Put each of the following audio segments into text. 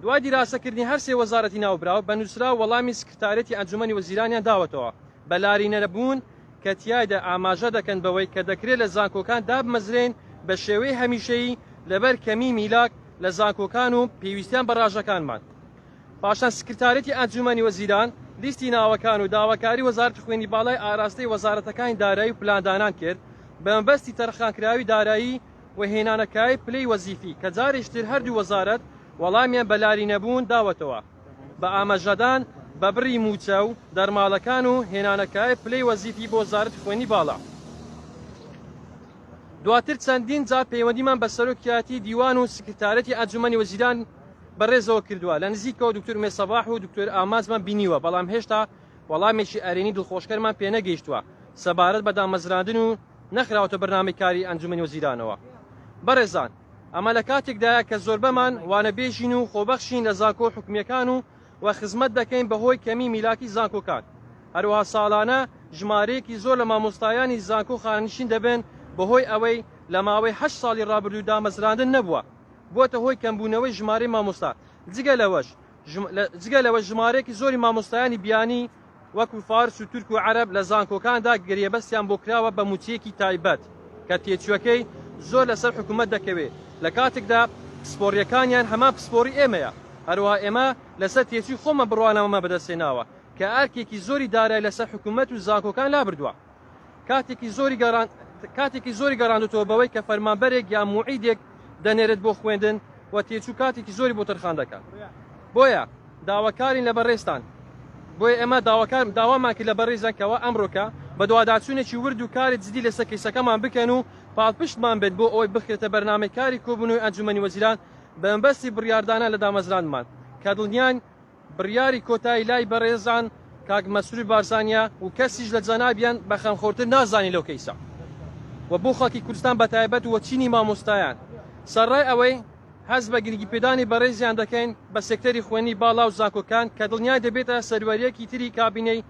دوای دیراسەکردنی هەر سێ وەزارەتی ناوبراو بە نووسراو وەڵامی سکرتارێتی ئەنجومەنی وەزیرانیان داوەتەوە بە لارینەرەبوون کە تیایدا ئاماژە دەکەن بەوەی کە دەکرێت لە زانکۆکان دابمەزرێن بە شێوەی هەمیشەیی لەبەر کەمی میلاک لە زانکۆکان و پێویستیان بە ڕاژەکانمان پاشان سکرتارێتی ئەنجومەنی وەزیران لیستی ناوەکان و داواکاری وەزارەتی خوێنی باڵای ئاراستەی وەزارەتەکانی دارایی و پلاندانان کرد بە مەبەستی تەرخانکراوی دارایی و هێنانە کایەی پلەی وەزیفی کە جارێکی تر هەردوو وەزارەت وەڵامیان بە لارینەبوون داوەتەوە بە ئاماژەدان بە بڕی مووچە و دەرماڵەکان و هێنانە کایەی پلەی وەزیفی بۆ وەزارەتی خوێنی باڵا. دواتر چەندین جار پەیوەندیمان بە سەرۆکیاتی دیوان و سکرتارەتی ئەنجومەنی وەزیران بەڕێزەوە کردووە لە نزیکەوە دکتۆر مێ سەباح و دکتۆر ئامانجمان بینیوە بەڵام هێشتا وەڵامێکی ئەرێنی دڵخۆشکەرمان پێنەگەیشتووە سەبارەت بە دامەزراندن و نەخراوەتە بەرنامەی کاری ئەنجومەنی وەزیرانەوە. بەڕێزان ئەمە لە کاتێکدایە کە زۆربەمان وانەبێژین و خۆبەخشین لە زانکۆ حکومیەکان و و خزمەت دەکەین بەهۆی کەمی میلاکی زانکۆکان هەروەها ساڵانە ژمارەیەکی زۆر لە مامۆستایانی زانکۆ خانەنشین دەبن بەهۆی ئەوەی لە ماوەی هەشت ساڵی ڕابردوو دامەزراندن نەبووە بووەتە هۆی کەمبوونەوەی ژمارەی مامۆستا جگە لەوەش جگە لەوەش ژمارەیەکی زۆری مامۆستایانی بیانی وەکو فارس و تورک و عەرەب لە زانکۆکاندا گرێبەستیان بۆ کراوە بە مووچەیەکی تایبەت کە تێچووەکەی زۆر لەسەر حکوومەت دەکەوێ لە کاتێکدا پسپۆڕییەکانیان هەمان پسپۆڕی ئێمەیە هەروەها ئێمە لەسەر تێچووی خۆمان بڕوانامەمان بەدەستهێناوە کە ئەرکێکی زۆری دارای لەسەر حکوومەت و زانکۆکان لابردووە. کاتێکی زۆری گەڕان کاتێکی زۆری گەڕاندوتەوە بەوەی کە فەرمانبەرێک یا موعیدێک دەنێرێت بۆ خوێندن و تێچوو کاتێکی زۆری بۆ تەرخان دەکات بۆیە داواکارین لە بەڕێستان بۆیە ئێمە داواکار داوامان کرد لە بەڕێزەکەەوە ئەمڕۆکە بە دوواداچوونێکی ورد و کاری جدی لەسەر کەیسەکەمان بکەن و پاڵپشتمان بێت بۆ ئەوەی بخرێتە بەرنمەکاری کۆبوونەوەی ئەنجومەنی وەزیران بەمبەستی بڕاردانە لە دامەزراندمان کە دڵنیان بڕیاری کۆتایی لای بەڕێزان کاک مەسرور بارزانیە و کەسیش لە جەنابیان بە خەمخۆرتر نازانین لەو کەیسە و بۆ خەڵکی کوردستان بە تایبەت و چینی مامۆستایان سەرڕای ئەوەی هەست بە گرنگی پێدانی بەڕێزیان دەکەین بە سێکتەری خوێندنی باڵا و زانکۆکان کە دڵنیای دەبێتە سەروەریەکی تری کابینەی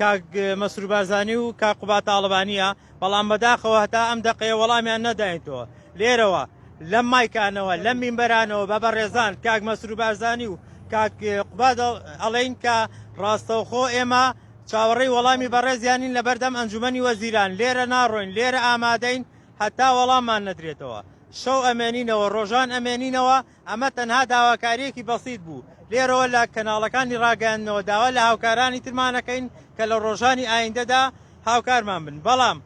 کاک مەسرور بارزانی و کاک قوباد تاڵەبانییە، بەڵام بەداخەوە هەتا ئەم دەقەیە وەڵامیان نەداینەوە. لێرەوە لەم مایکانەوە لەم مینبەرانەوە بە بەڕێزان کاک مەسرور بارزانی و کاک قوباد ئەڵێین کە ڕاستەوخۆ ئێمە چاوەڕێی وەڵامی بەڕێزیانین لە بەردەم ئەنجومەنی وەزیران لێرە ناڕۆین لێرە ئامادەین هەتا وەڵاممان نەدرێتەوە شەو ئەمێنینەوە ڕۆژان ئەمێنینەوە ئەمە تەنها داواکارییەکی بەسیت بوو، لێرەوە لە کەناڵەکانی ڕاگەیاندنەوە داوا لە هاوکارانی ترمان ئەکەین کە لە ڕۆژانی ئایندەدا هاوکارمان بن، بەڵام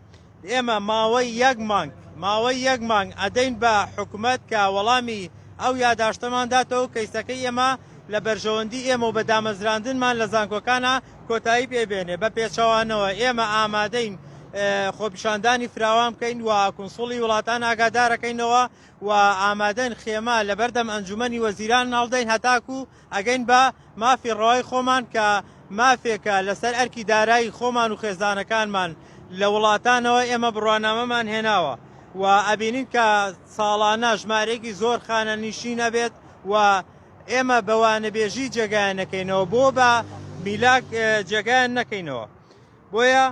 ئێمە ماوەی یەک مانگ ماوەی یەک مانگ ئەدەین بە حکومەت کە وەڵامی ئەو یاداشتەمان داتەوەو کەیسەکەی ئێمە لە بەرژەوەندی ئێمەو بە دامەزراندنمان لە زانکۆکانا کۆتایی پێ بێنێ، بە پێچەوانەوە ئێمە ئامادەین خۆپیشاندانی فراوان بکەین و کونسوڵی وڵاتان ئاگادارەکەینەوە و ئامادەین خێمە لە بەردەم ئەنجومەنی وەزیران هەڵدەین هەتاکو ئەگەین بە مافی ڕەوای خۆمان کە مافێکە لەسەر ئەرکی دارایی خۆمان و خێزانەکانمان لە وڵاتانەوە ئێمە بڕوانامەمان هێناوە و ئەبینین کە ساڵانە ژمارەیەکی زۆر خانەنیشین ئەبێت و ئێمە بە وانەبێژی جێگایان نەکەینەوە بۆ بە میلاک جێگایان نەکەینەوە بۆیە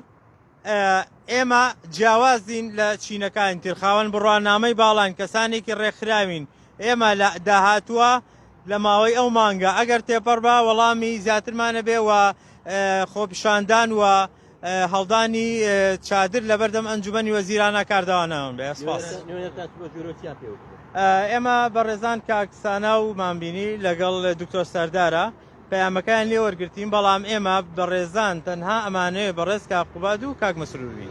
ئێمە جیاوازین لە چینەکانی تر، خاوەن بڕوانامەی باڵاین، کەسانێکی ڕێکخراوین، ئێمە لە داهاتووە لە ماوەی ئەو مانگە ئەگەر تێپەڕ بە وەڵامی زیاترمان نەبێ و خۆپیشاندان و هەڵدانی چادر لە بەردەم ئەنجومەنی وەزیرانە کاردەوانەوەن بێ سپاس. ئێمە بەڕێزان کاکسانا و مامبینی لەگەڵ دکتۆر سەردارە پەیامەکەیان لێ وەرگرتین بەڵام ئێمە بەڕێزان تەنها ئەمانەوێ بەڕێز کاک قوباد و کاک مەسرور بین.